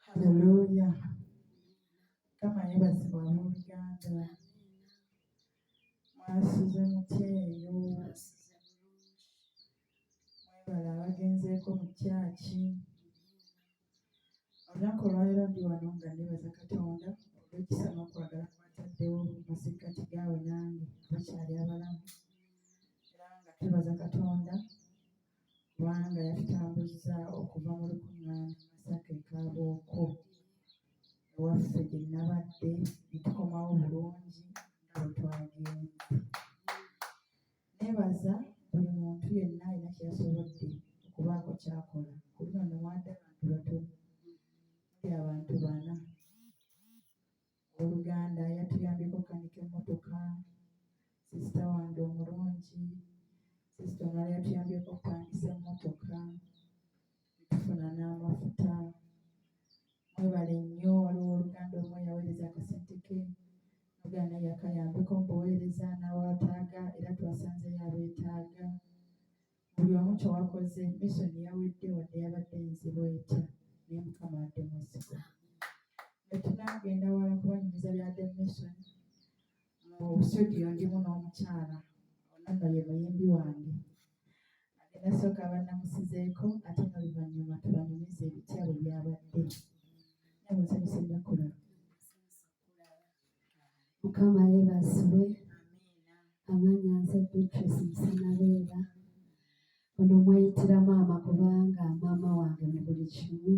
Haleluya. Kama yebazibwa abooluganda mwasuze mutya eyo mwebala abagenzeeko mu kyaki olunaku olwalero ndi wano nga nebaza katonda olwekisa n'okwagala kwataddewo masekkati gaawe nange bakyali abalamu era nga twebaza katonda kubanga yatutambuzza okuva mu lukuŋŋaana Masaka e Kaabooko ewaffe gye nnabadde ne tukomawo bulungi nga bwe twagenze. Neebaza buli muntu yenna alina kye yasobodde okubaako ky'akola ku luno ne mwada abantu batono muli abantu bana oluganda yatuyambeko okukanika emmotoka sisita wange omulungi sisita omulala yatuyambeko okupangisa emmotoka tufuna n'amafuta mwebale nnyo waliwo oluganda omu yaweereza akasente ke oluganda yakayambeko mu buweereza n'awaataaga era twasanzeyo abeetaaga buli omu kyewakoze misoni yawedde wadde yabadde nzibu etya naye mukama adde mwesigwa netunagenda wala kubanyumiza byadde mission mu studio ndimu n'omukyala onanno ye muyimbi wange agenda sooka banamusizeeko ate noluvanyuma tubanyumiza ebitya bwe byabadde namusanyusa ennakulaba mukama yebazibwe amanya nze beatrice musanabeera ono mweyitira maama kubanga maama wange mu buli kimu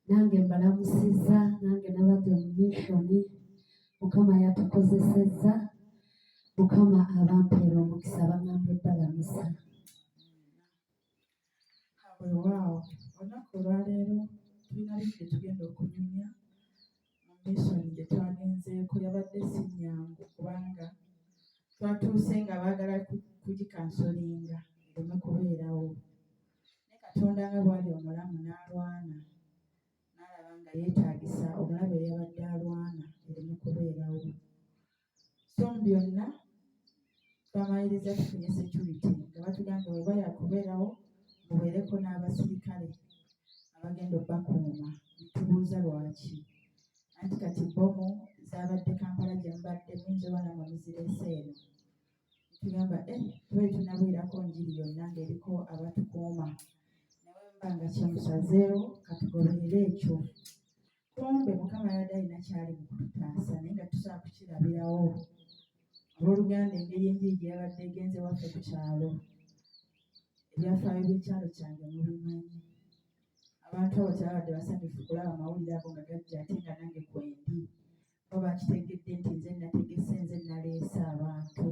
nange mbalamusiza nange nabadde mu mishoni mukama yatukozesezza mukama abampeera omukisa bangamba ebbalamusa Weewaawo, olunaku olwaleero tulina bingi bye tugenda okunyumya mu misoni gye twagenzeeko. Yabadde si nnyangu kubanga twatuuse nga baagala kugikansolinga ereme kubeerawo. Naye Katonda nga bw'ali omulamu n'alwana n'alaba nga yeetaagisa omulabe eyabadde alwana ereme kubeerawo. so mu byonna twamaliriza tufunye security nga batugambye weba yakubeerawo mubeereko n'abasirikale abagenda obakuuma nitubuuza lwaki anti kati bomu zabadde kampala gyemubadde muyinza oba namwe muzireese eno tugamba eh, tuba tunabwirako njiri yonna ngaeriko abatukuuma nawe mba nga kyemusazeewo katugoberere ekyo kumbe mukama yabadde alina kyali mu kututaasa naye nga tusobola kukirabirawo olwoluganda engeri enjiri gye yabadde egenze waffe ku kyalo ebyafaayo by'ekyalo kyange mubimanyi abantu abo tebabadde basanyufu kulaba amawulire ago nga gajja ate nga nange kwendi bo bakitegedde nti nze nategese nze naleese abantu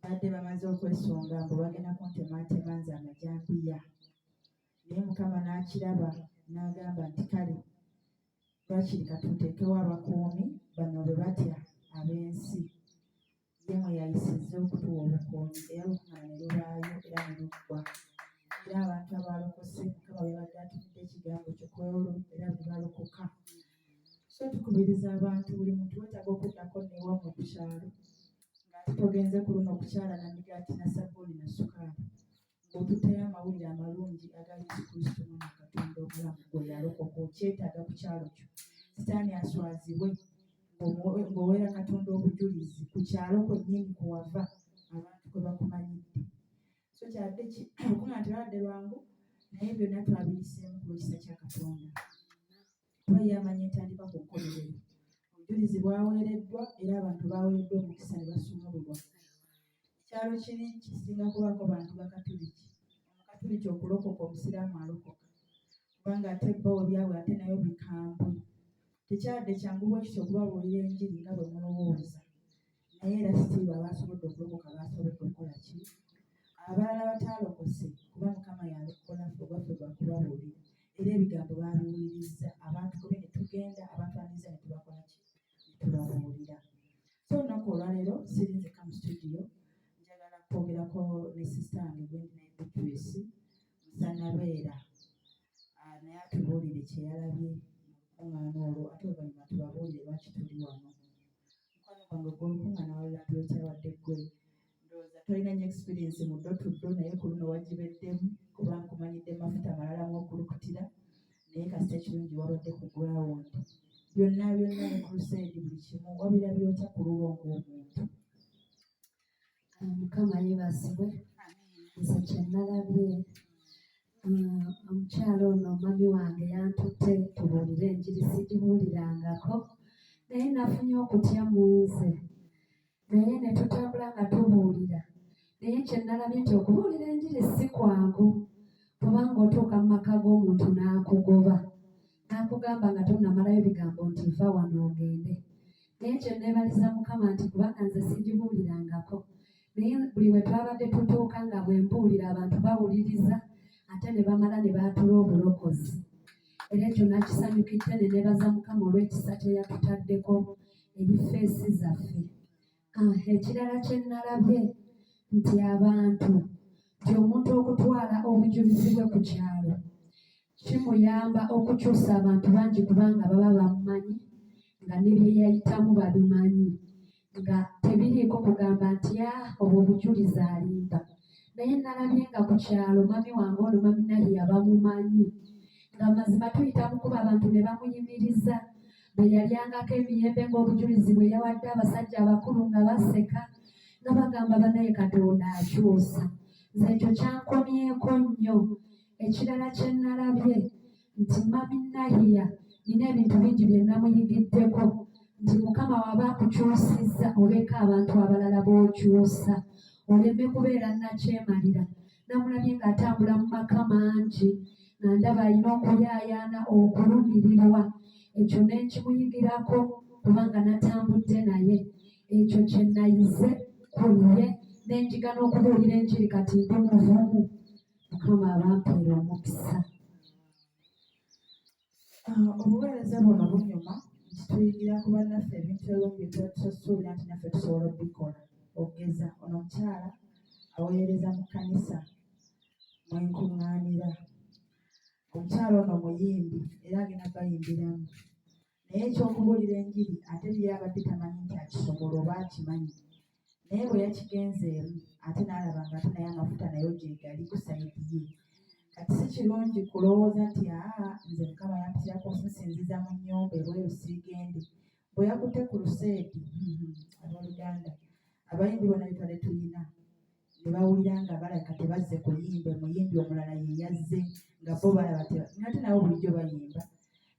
badde bamaze okwesunga mbu bagenda kuntematema nze amajambiya naye mukama n'akiraba n'agamba nti kale lwakiri katuteekewo abakuumi bano bwe batya ab'ensi ye mwe yayisizza okutuwa obukuumi era lukuma ne lubaayo era ne luggwa era abantu abaalokose mukama bebadde atufudde ekigambo kyo kwewolo era bwe balokoka so tukubiriza abantu buli muntu wetaaga okuddako newa mu kukyalo ngaate togenze ku luno okukyala na migaati na sabbuuni na sukaali Otuteyo amawulire amalungi aga Yesu Kristo mwana Katonda omulamu gwe yalokoka okyetaaga ku kyalo kyo sitaani aswazibwe ng'oweera Katonda obujulizi ku kyalo kwennyini kwe wava abantu kwe bakumanyidde so kyadde okuŋa nti lwabadde lwangu naye byonna twabiyiseemu ku lwekisa kya Katonda kuba ye amanyi entandika ku kkomerero. Obujulizi bwaweereddwa era abantu baaweereddwa omukisa ne basumululwa. Ekyalo kiri kisinga kubaako bantu Bakatuliki. Omukatuliki okulokoka Omusiraamu alokoka kubanga ate bo ebyabwe ate nayo bikambwe. Tekyabadde kyangu bwe kityo okubabuulira enjiri nga bwe mulowooza. naye era sitiiba abaasobodde okulokoka baasobodde okukola ki abalala bataalokose kuba mukama yalokola fe obwaffe bwa kubabuulira era ebigambo baabiwulirizza abantu kube ne tugenda abantu aniza ne tubakola ki ne tubabuulira so olunaku olwaleero siri nzeka mu studio njagala kwogerako ne sisita wange gwendinaye beatrice musanabeera ah, naye atubuulire kyeyalabye mu lukuŋŋaana olwo ate oluvannyuma tubabuulire lwaki tuli wano mukwano gwange gw'ompunga nawalulabya otya wadde ggwe ndowooza tolina nyo experiensi mu ddo tuddo naye ku luno wagibeddemu kuba nkumanyidde mafuta malala mu okulukutira naye kasita ekirungi wabadde ku ground byonna byonna ne crusade buli kimu wabirabya otya ku lulwo ng'omuntu mukama yebazibwe nze kyenalabye ah, omukyalo ono omwami wange yantutte tubuulire enjiri sigibuulirangako naye nafunye okutya mu nze naye ne tutambula nga tubuulira naye kyenalabye nti okubuulira enjiri si kwangu kubanga otuuka mu maka g'omuntu n'akugoba n'akugamba nga tonnamalayo bigambo nti va wano ogende naye ekyo nneebaliza mukama nti kubanga nze sigibuulirangako naye buli we twabadde tutuuka nga bwe mbuulira abantu bawuliriza ate ne bamala ne baatula obulokozi era ekyo nakisanyukidde ne neebaza mukama olw'ekisa kye yatutaddeko eri feesi zaffe Ah, ekirala kye nnalabye nti abantu nti omuntu okutwala obujulizi bwe ku kyalo kimuyamba okukyusa abantu bangi kubanga baba bamumanyi nga ne bye yayitamu babimanyi nga tebiriiko kugamba nti a ah, obwo obujulizi alimba naye nnalabye nga ku kyalo mami wange ono mami naye yabamumanyi nga mazima tuyita mukuba abantu ne bamuyimiriza bwe yalyangako emiyembe ng'obujulizi bwe yawadde abasajja abakulu nga baseka nga bagamba banaye katonda akyusa nze ekyo kyankomyeko nnyo ekirala kye nnalabye nti mami nahiya nina ebintu bingi bye namuyigiddeko nti mukama waba akukyusizza oleka abantu abalala b'okyusa oleme kubeera nakyemalira namulabye ng'atambula mu maka mangi nga ndaba alina okuyaayaana okulumirirwa ekyo ne nkimuyigirako kubanga natambudde naye ekyo kye nayize ku ye ne njiga n'okubuulira enjiri kati ndi muvumu mukama abampeera omukisa Ah, obuweereza buno bunyuma nti tuyigira ku bannaffe ebintu ebimu bye tuba tusuubira nti naffe tusobola okubikola okugeza ono omukyala aweereza mu kkanisa mwe nkuŋŋaanira omukyala ono muyimbi era agenda bayimbiramu naye ekyokubuulira enjiri ate ye abadde tamanyi nti akisobola oba akimanyi naye bwe yakigenzeemu ate n'alaba nga ate naye amafuta nayo gyegali ku sayidi ye kati si kirungi kulowooza nti aa nze mukama yampitirako okusinziza mu nnyumba ebweru siigende bwe yakutte ku luseedi mm-hmm, abooluganda abayimbi bona bitwale tulina ne bawulira nga balabika tebazze kuyimba omuyimbi omulala ye yazze nga bo balaba nate nabo bulijjo bayimba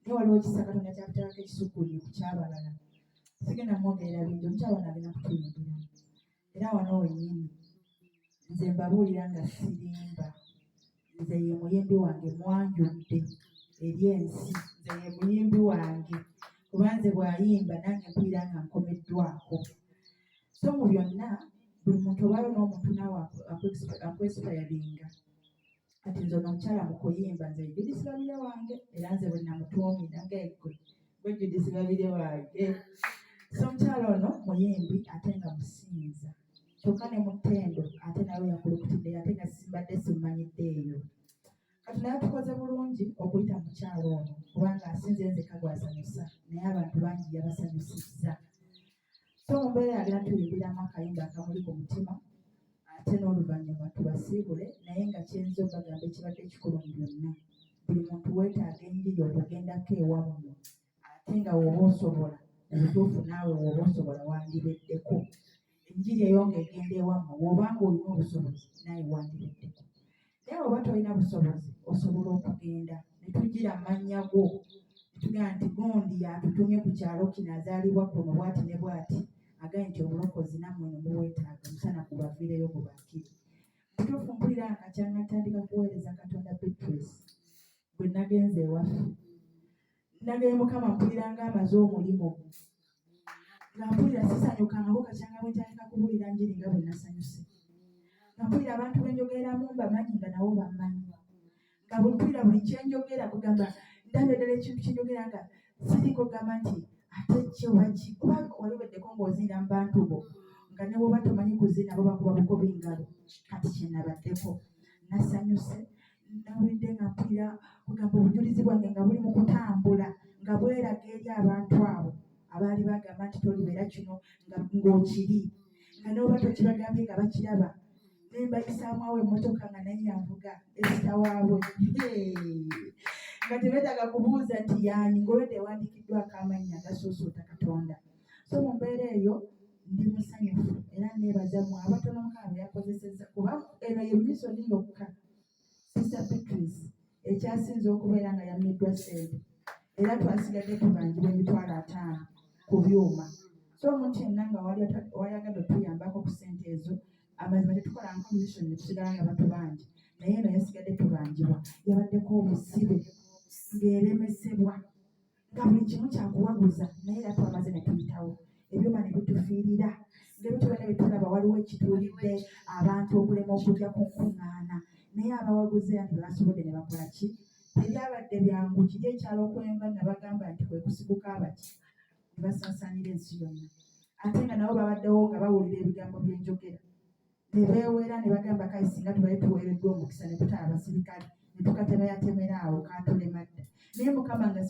naye waliwo ekisa katonda kyakutayako ekisukulire ku kyabalala sigenda mwogerera bintu omukyala ono agenda kutuyingira era wano wenyini nze mbabuulira nga sirimba nze ye muyimbi wange mwanjudde eri ensi nze ye muyimbi wange kuba nze bwayimba nange mpulira nga nkomeddwako so mu byonna buli muntu obayo n'omuntu naawe akwesipayalinga kati nze ono omukyala mu kuyimba nze judisi babire wange era nze bwe namutuumi nange gwe gwe judisi babire wange so omukyala ono muyimbi ate nga musinza kyokka ne mutendo ate nawe yakulukutidde ate nga simbadde simmanyidde eyo kati naye tukoze bulungi okuyita mukyalo ono kubanga asinze nze kagwasanyusa naye abantu bangi yabasanyusizza so mu mbeera yagira tuyimbiramu akayimba akamuli ku mutima ate n'oluvannyuma tubasiibule naye nga kyenza obagamba ekibadde ekikulu mu byonna buli muntu weetaaga enjiri okugendako ewammwe ate nga woba osobola obutuufu naawe woba osobola wandibeddeko enjiri eyo nga egenda ewammwe woba nga olina obusobozi naawe wandibeddeko naye oba tolina busobozi osobola okugenda ne tugira mannya go tugaa nti gundi yatutumye ku kyalo kino azaalibwa kuno bwati ne bwati agaye nti obulokozi nammwe no muwetaaga musana gubaviireyo gubakiri mutuufu mpulira nga kyanga ntandika kuweereza katonda beatrice bwe nagenze ewaffe Nageye Mukama mpulira nga amaze omulimu nga mpulira sisanyukangako kakyanga bwe ntandika kubuulira njiri nga bwe nasanyuse nga mpulira abantu bwe njogeramu mbamanyi nga nabo bammanyi nga bwe mpulira buli kye njogera kugamba ndaba eddala ekintu kye njogera nga siriiko gamba nti ate kyewaki kuba wali weddeko ng'oziina mu bantu bo nga ne bwoba tomanyi kuziina bo bakuba bukuba engalo kati kye nabaddeko nasanyuse nawedde nga mpulira kugamba obujulizi bwange nga buli mu kutambula nga bweraga eri abantu abo abaali bagamba nti tolibeera kino ng'okiri nga noba tokibagambye nga bakiraba naye mbayisaamu awo emmotoka nga naye yanvuga esita waabwe nga tebetaaga kubuuza nti yaani ngolwedde ewandiikiddwako amannya agasuusuuta katonda so mu mbeera eyo ndi musanyufu era neebaza mu abatono mukama byakozesezza kuba eno ye misoni yokka Sister Beatrice ekyasinze okubeera nga yammiddwa ssente era twasigadde tubanjibwa emitwalo ataano ku byuma so omuntu yenna nga wayagadde otuyambako ku ssente ezo amazima tetukola nko mission netusigala nga batubanja naye eno yasigadde tubanjibwa yabaddeko obusibe ng'eremesebwa nga buli kimu kyakuwaguza naye era twamaze ne tuyitawo ebyuma ne bitufiirira ngebituba ne bitulaba waliwo ekituulidde abantu okulema okujja ku nkuŋŋaana naye abawaguze anti bebasobodde ne bakola ki tebyabadde byangu kiri ekyalo okwemba nabagamba nti kwe kusiguka abaki ne basaasaanira ensi yonna ate nga nabo babaddewo nga bawulira ebigambo byenjogera ne beewera ne bagamba kale singa tubale tuweereddwa omukisa ne tutala abasirikale ne tukatemeyatemera awo kaatulema dda naye mukama nga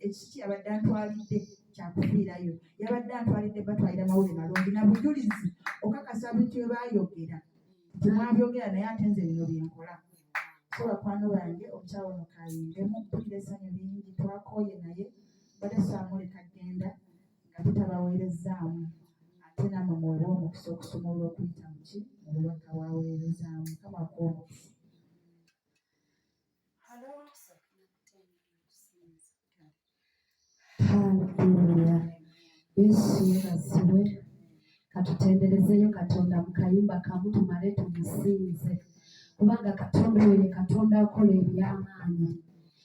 ekiki yabadde antwalidde kyakufiirayo yabadde antwalidde batwalira mawulire malungi na bujulizi okakasa bintu bye baayogera nti mwabyogera naye ate nze bino bye nkola so bakwano bange omukyala ono kayindemu mpulira essanyu lingi twakooye naye bade saamuleka genda nga tutabaweerezzaamu ate namwe mwewe omukisa okusoma olw'okuyita muki mu bubaka waweerezaamu kama kuomukisa Haleluya. Yesu asiwe. Katutenderezeyo Katonda mu kayimba kamu tumale tumusinze kubanga Katonda oyo ye Katonda akola eby'amaanyi.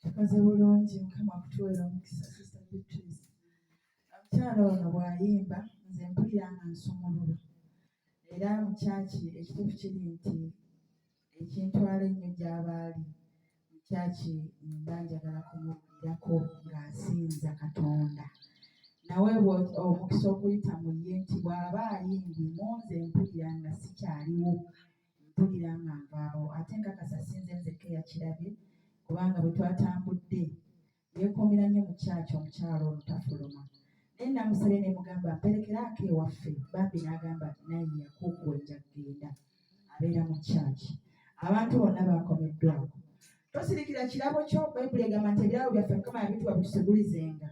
tukoze bulungi mukama akutuweera omukisa sister beatrice omukyala ono bw'ayimba nze mpulira nga nsumulula era mu kyaki ekituufu kiri nti ekintwala ennyo gy'abaali mu kyaki mba njagala kumuwulirako ng'asinza katonda nawe omukisa okuyita mu ye nti bw'aba ayimbye mu nze mpulira nga sikyaliwo mpulira nga nvaawo ate nkakasa sinze nzekka eyakirabye kubanga bwe twatambudde yeekuumira nnyo mu kyaki omukyalo ono tafuluma naye namusabye ne mugamba mperekeraako ewaffe bambi n'agamba naye yakuukuwa enja kugenda abeera mu kyaki abantu bonna baakomeddwako tosirikira kirabo kyo bayibuli egamba nti ebirabo byaffe mukama yabituwa bitusegulizenga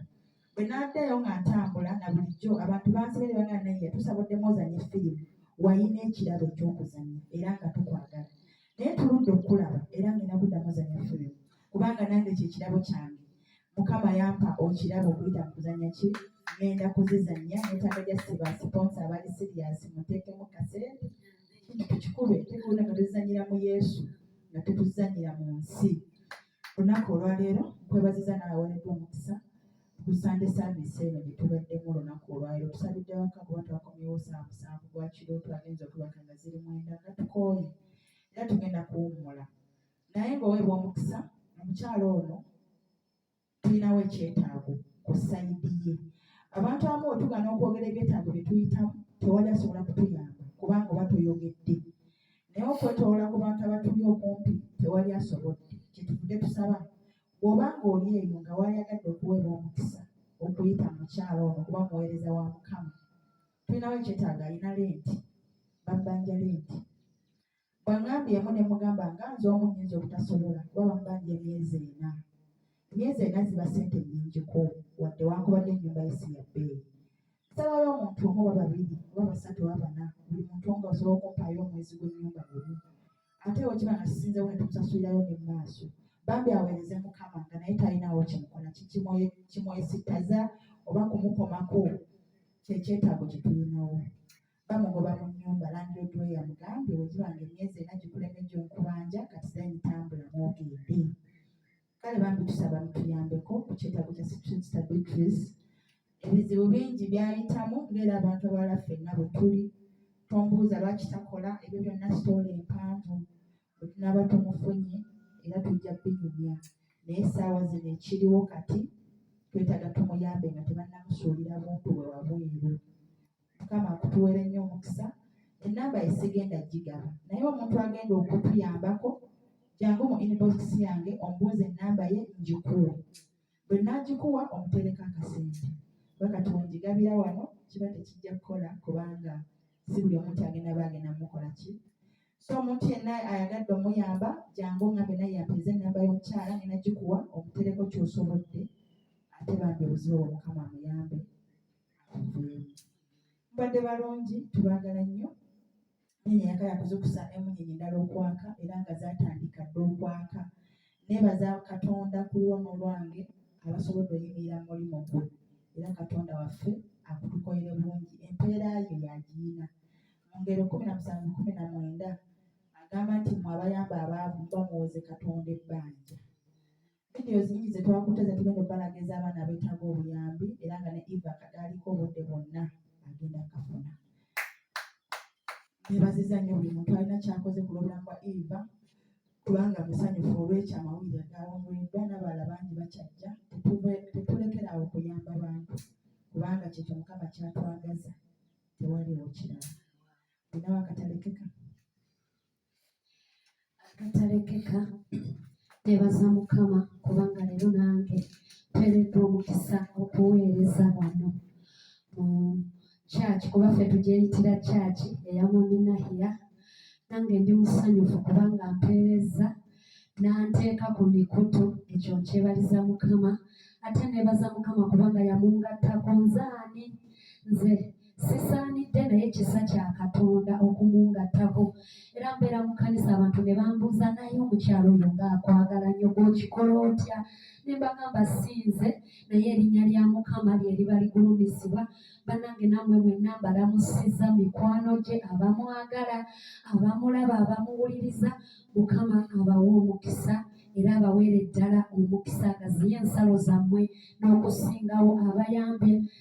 bwe naddayo nga ntambula na bulijjo abantu bansabye ne bagamba naye tusaba oddemu ozanye firimu walina ekirabo ekyokuzannya era nga tukwagala naye tuludde okukulaba era ngenda kuddamu ozanya firimu kubanga nange kyekirabo kyange mukama yampa okirabo okuyita mu kuzanya ki ngenda kuzizanya netaaga just ba siponsa abali serious muteekemu kasente kintu tukikube tekulina nga tuzanyira mu yesu nga tetuzanyira mu nsi Olunaku olwaleero nkwebaziza n'abaweereddwa omukisa ku Sunday service eno gye tubaddemu olunaku olwaleero tusabidde waka kuba twakomyewo saa musanvu gwa kiro twagenza okubaka nga ziri mwenda nga tukooye era tugenda kuwummula naye ng'oweebwa omukisa omukyala ono tulinawo ekyetaago ku sayidi ye abantu abamu wetugana okwogera ebyetaago bye tuyitamu tewali asobola kutuyamba kubanga oba toyogedde naye okwetoola ku bantu abatuli okumpi tewali asobodde kyetuvude tusaba bwoba ng'oli eyo nga wayagadde okuweebwa omukisa okuyita mukyalo ono kuba muweereza wa mukama tulinawo ekyetaaga alina lenti babbanja lenti bwangambyeemu ne mugamba nga nze omu nyinza obutasobola kuba bamubanja emyezi ena emyezi ena ziba sente nyingiko wadde wankubadde ennyumba yesi ya bbeeyi Sabayo omuntu omu oba babiri oba basatu oba bana buli muntu nga osobola okumpaayo omwezi gw'ennyumba gumu ate bwe kiba nga sisinzewo ne tukusasulirayo ne mu maaso bambi aweereze mukama nga naye talinaawo kimukola kimwesittaza oba kumukomako kyekyetaago kye tulinawo bamugoba mu nnyumba landiroodi we yamugambye bwe kiba nga emyezi ena gikulemejja okubanja kati zayitambula mwogende kale bambi tusaba mutuyambeko ku kyetaago kya Street Stabilities ebizibu bingi byayitamu ng'era abantu abala ffenna bwe tuli tombuuza lwaki takola ebyo byonna sitoola empanvu bwe tunaaba tumufunye era tujja binyumya naye essaawa zino ekiriwo kati twetaaga tumuyambe nga tebannamusuulira buntu bwe wabweru mukama akutuwere nnyo omukisa enamba esigenda gigaba naye omuntu agenda okutuyambako jangu mu inbox yange ombuuza enamba ye ngikuwe bwe nagikuwa omutereka akasente kuba kati wengigabira wano kiba tekijja kukola kubanga si buli omuntu agenda ba agenda mukola ki so omuntu yenna ayagadde omuyamba jangu ngambe naye yapeeza enamba y'omukyala nina gikuwa omutereko kyosobodde ate bambi obuzibu obwo mukama amuyambe mbadde balungi tubagala nnyo nyenye yaka yakuzukusa emunyenye endala okwaka era nga zatandika dda okwaka nebaza katonda ku lwono lwange abasobodde oyimirira mu mulimu gwe era katonda waffe akutukolere bulungi empeera yo yagiyina mu ngero kumi na musanvu kumi na mwenda agamba nti mwe abayamba abaavu muba muwoze katonda ebbanja vidiyo zingi ze twakutte ze tugenda okubalaga ez'abaana abeetaaga obuyambi era nga ne eva kadaaliko obudde bwonna agenda kafuna nebaziza nnyo buli muntu alina kyakoze ku lwobulamu bwa eva kubanga musanyufu olwekyo amawulire agawongoleddwa n'abalala bangi bakyajja tetulekeraawo kuyamba bantu kubanga kyekyo mukama kyatwagaza tewaliwo kirala binawo akatalekeka agatalekeka nebaza mukama kubanga leero nange tweredde omukisa okuweereza wano mu kyaki kuba ffe tugyeyitira kyaki eya maminahiya nange ndi musanyufu kubanga mpeereza n'anteeka ku mikutu ekyo nkyebaliza mukama ate nebaza mukama kubanga yamungattako nzaani nze sisaanidde naye kisa kya katonda okumungattako era mbeera mu kanisa abantu ne bambuuza naye omukyalo oyo ngaakwagala nnyo gwokikola otya ne mbagamba siinze naye erinnya lya mukama lye liba ligulumizibwa bannange nammwe mwenna mbalamusiza mikwano gye abamwagala abamulaba abamuwuliriza mukama abawa omukisa era abaweere ddala omukisa agaziye ensalo zammwe n'okusingawo abayambye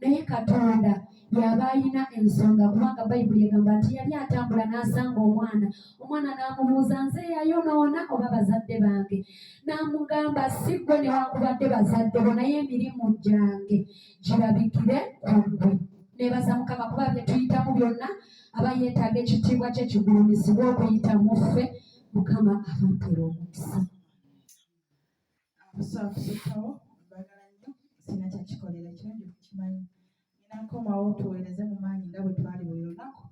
naye katonda yaba alina ensonga kubanga bayibuli egamba nti yali atambula n'asanga omwana omwana n'amubuuza nze yayonoona oba bazadde bange n'amugamba si gwe newankubadde bazadde bo naye emirimu gyange girabikire ku gwe nebaza mukama kuba byetuyitamu byonna aba yeetaaga ekitiibwa kye kigulumizibwa okuyita mu ffe mukama abampera omukisa kusookawo mbagala nnyo sina kyakikolera kirungi kukimanyi nina nkomawo tuweereze mu maanyi nga bwe twali buli lunaku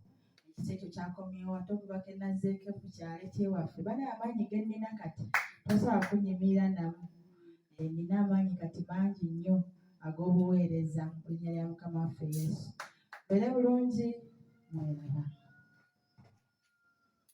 ekisa ekyo kyakomyewo ate okubaka enazzeeko ku kyalo ekyewaffe bali amaanyi ge nnina kati tosobola kunyimira namu eh, nina amaanyi kati mangi nnyo ag'obuweereza mu linnya lya mukama waffe yesu mbeere bulungi mweraba